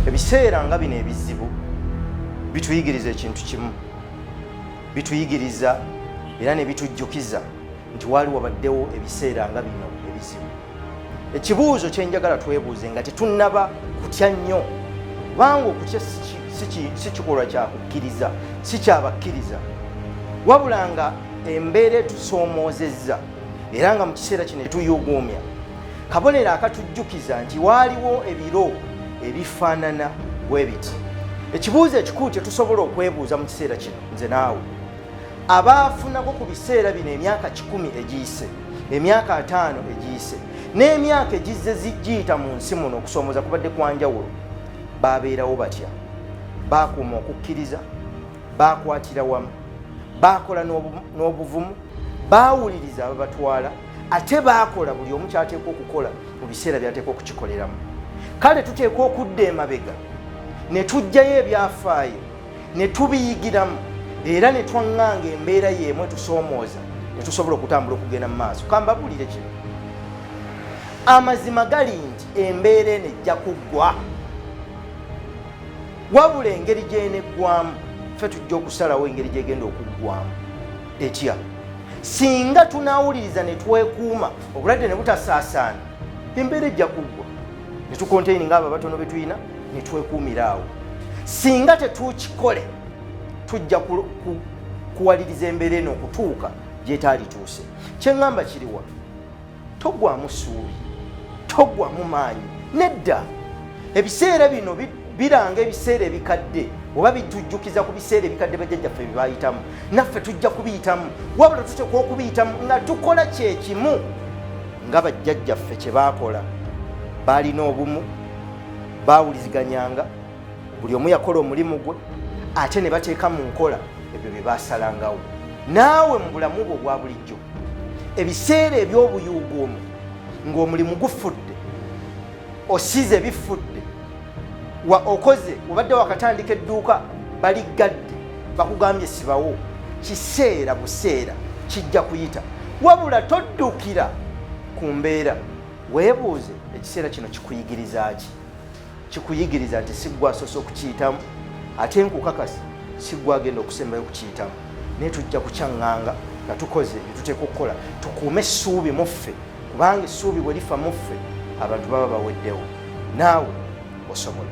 ebiseera nga bino ebizibu bituyigiriza ekintu kimu bituyigiriza era ne bitujjukiza nti waali wabaddewo ebiseera nga bino ebizibu ekibuuzo kyenjagala twebuuze nga tetunnaba kutya nnyo kubanga okutya si kikolwa kyakukkiriza si kyabakkiriza wabula nga embeera etusoomoozezza era nga mu kiseera kino etuyuguumya kabonero akatujjukiza nti waaliwo ebiro ebifaanana bwe biti ekibuuzo ekikulu kye tusobola okwebuuza mu kiseera kino nze naawe abaafunako ku biseera bino emyaka kikumi egiyise emyaka ataano egiyise n'emyaka egizze zigiyita mu nsi muno okusoomoza kubadde kwa njawulo baabeerawo batya baakuuma okukkiriza baakwatira wamu baakola n'obuvumu baawuliriza ababatwala ate baakola buli omu kyateekwa okukola mu biseera byateekwa okukikoleramu kale tuteekwa okudda emabega ne tujjayo ebyafaayo ne tubiyigiramu era ne twaŋŋanga embeera y'emu etusoomooza ne tusobola okutambula okugenda mu maaso kambabulire kino amazima gali nti embeera eno ejja kuggwa wabula engeri gyeneggwamu ffe tujja okusalawo engeri gyegenda okuggwamu etya singa tunawuliriza ne twekuuma obulwadde ne butasaasaana embeera ejja kuggwa ne tukonteyini ngaabo abatono be tulina ne twekuumira awo singa tetukikole tujja kuwaliriza embeera eno okutuuka gyetaalituuse kyeŋŋamba kiriwa togwamu suubi togwamu maanyi nedda ebiseera bino biranga ebiseera ebikadde oba bitujjukiza ku biseera ebikadde bajjajjaffe byebayitamu naffe tujja kubiyitamu wabula tuteekwa okubiyitamu nga tukola kyekimu nga bajjajjaffe kye baakola baalina obumu baawuliziganyanga buli omu yakola omulimu gwe ate ne bateeka mu nkola ebyo bye baasalangawo naawe mu bulamu bwo obwa bulijjo ebiseera eby'obuyuuguumu ng'omulimu gufudde osize bifudde wa okoze obadde wakatandika edduuka baliggadde bakugambye sibawo kiseera buseera kijja kuyita wabula toddukira ku mbeera Weebuuze, ekiseera kino kikuyigiriza ki? Kikuyigiriza nti si gwe asoose okukiyitamu, ate nkukakasa si gwe agenda okusembayo okukiyitamu, naye tujja kukyaŋŋanga nga tukoze bye tuteekwa okukola. Tukuume essuubi mu ffe, kubanga essuubi bwe lifa mu ffe abantu baba baweddewo. Naawe osobola.